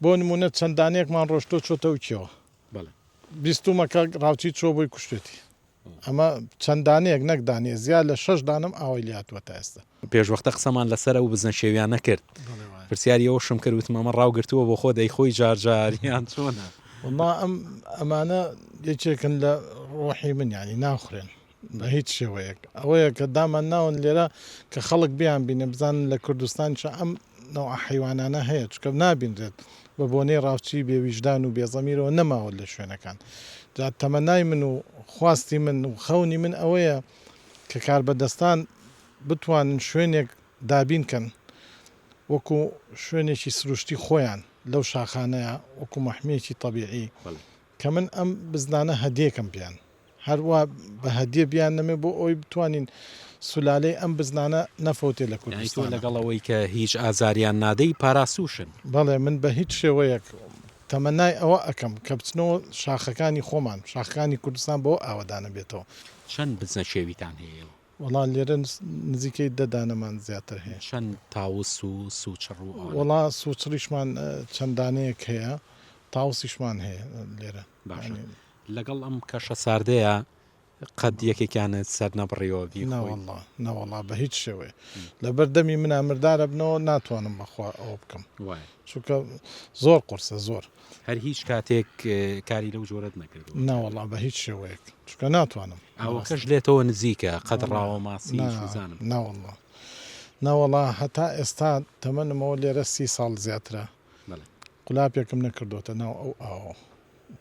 بۆ نموونە چەند دانەیەکمان ڕۆشتووە چۆتە ئوکیەوە بیستوومە کە ڕاوچی چووە بۆی کوشتێتی ئەمە چەند دانەیەک نەک دانێ زیاد لە شەش دانم ئاوای لاتوە تا ئێستا پێشوەختە قسەمان لەسەر ئەو بزنە شێویانە کرد پرسیاری ئەوشم کرد وتم ئەمە ڕاوگرتووە بۆ خۆ دەی خۆی جار جار یان چۆنە ما ئەم ئەمانە یەکێکن لە ڕۆحی من یانی ناخورێن بە هیچ شێوەیەک ئەوەیە کە دامان ناون لێرە کە خەڵک بیان بینێ بزانن لە کوردستانشە ئەم نەوع حیوانانە هەیە چکە نابینرێت بە بۆنەی ڕاوچی بێویژدان و بێزەمیرەوە نەماوە لە شوێنەکان جا تەمەنای من و خواستی من و خەونی من ئەوەیە کە کاربەدەستان بتوانن شوێنێک دابین کەن وەکو شوێنێکی سروشتی خۆیان لەو شاخانەیە وەکو مەحمێکی طببیعی کە من ئەم بزنانە هەدێکم پیان هەروا بە هەدیە بیاننەمێ بۆ ئەوەی بتوانین سولالەی ئەم بزنانە نەفەوتێ لە کوردستان. یانی تۆ لەگەڵ ئەوەی کە هیچ ئازاریان نادەی پاراستووشن؟ بەڵێ من بە هیچ شێوەیەک تەمەنای ئەوە ئەکەم کە بچنەوە شاخەکانی خۆمان، شاخەکانی کوردستان بەوە ئاوەدانەبێتەوە. چەند بزنە چێویتان هەیە؟ وەڵا لێرە نزیکەی دە دانەمان زیاتر هەیە. چەند تاوس و سوچڕ و ئەوانە؟ وەڵا سوچڕیشمان چەند دانەیەک هەیە، تاوسیشمان هەیە لێرە. باشە لەگەڵ ئەم کەشە ساردەیە قەت یەکێکیانە سەر نەبڕیەوە ناوەله ناوەڵا بە هیچ شێوەیە لە بەردەمی منە مردارە بنەوە ناتوانم بەخوا ئەوە بکەم چونکە زۆر قرسە زۆر هەر هیچ کاتێک کاری لەو جۆرت نەکرد ناوەڵا بە هیچ شێوەیەک چونکە ناتوانم ئەوەکەش لێتەوە نزیکە قەت ڕاوە ماسی نازانم ناوەڵا ناوەڵا هەتا ئێستا تەمەنمەوە لێرە سی ساڵ زیاترە قولاپێکم نەکردۆتە ناو ئەو ئاوە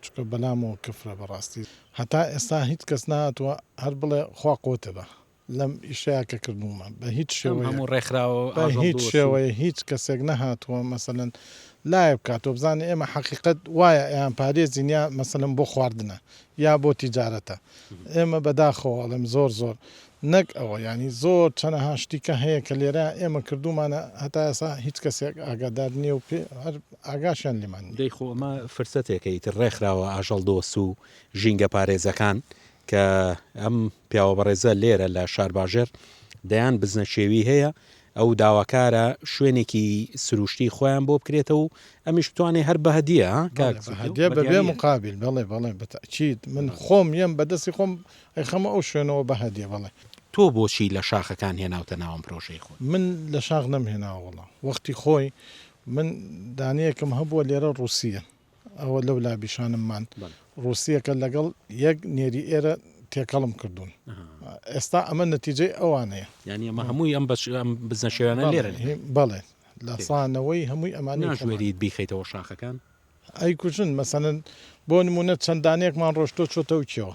چونکە بەلامەوە کفرە بەراستی هەتا ئێستا هیچ کەس نەهاتوە هەر بڵێ خوا قوتێ بە لەم ئیشەیا کە کردومە بە هیچ شێوەیە هیچ کەسێک نەهاتوە مەسەلەن لایە بکات تۆ بزانێ ئێمە حەقیقەت وایە ئەیان پارێزین یا مەسەلەن بۆ خواردنە یا بۆ تیجارەتە ئێمە بەداخەوە ئەڵێم زۆر زۆر نەک ئەوە یانی زۆر چەنەها شتی کە هەیە کە لێرە ئێمە کردومانە هەتا ئێسا هیچ کەسێک ئاگادار نیە و پێ هەر ئاگاشیان لێمان نیە. دەی خۆ ئەمە فرسەتێکە ئیتر ڕێکخراوە ئاژەڵ دۆست و ژینگە پارێزەکان کە ئەم پیاوە بەڕێزە لێرە لە شارباژێڕ دەیان بزنە چێوی هەیە ئەو داواکارە شوێنێکی سروشتی خۆیان بۆ بکرێتە و ئەمیش بتوانێ هەر بەهدیە بەێ مقابل بەڵێ بەڵێ بەتەچیت من خۆم یەم بەدەستی خۆم ئەی خەمە ئەو شوێنەوە بە هەدیە بەڵێ. تۆ بۆچی لە شاخەکان هێناوتە ناوم پرۆژەی خۆت؟ من لە شاخ نەم هێناوە وەڵا وەختی خۆی من دانەیەکم هەبووە لێرە ڕووسیە ئەوە لەو لا بیشانم مان ڕووسیەکە لەگەڵ یەک نێری ئێرە تێکەڵم کردوون ئێستا ئەمە نەتیجەی ئەوانەیە یانی ئەمە هەمووی ئەم بەچ ئەم بزنە شێوانە لێرە بەڵێ لە سانەوەی هەمووی ئەمانە ناژمێریت بیخەیتەوە شاخەکان؟ ئەیکوژن مەسەلەن بۆ نمونە چەند دانەیەکمان ڕۆشتۆ چۆتەو کێوە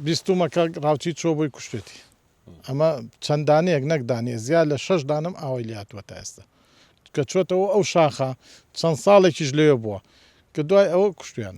بیستومە کە ڕاوچی چۆ بۆی کوشتێتی ئەمە چەند دانەیەک نەک دانێ زیاد لە شەش دانم ئاوای لاتوە تا ئێستا کە چۆتەوە ئەو شاخە چەند ساڵێکیش لەوێ بووە کە دوای ئەوە کوشتیان.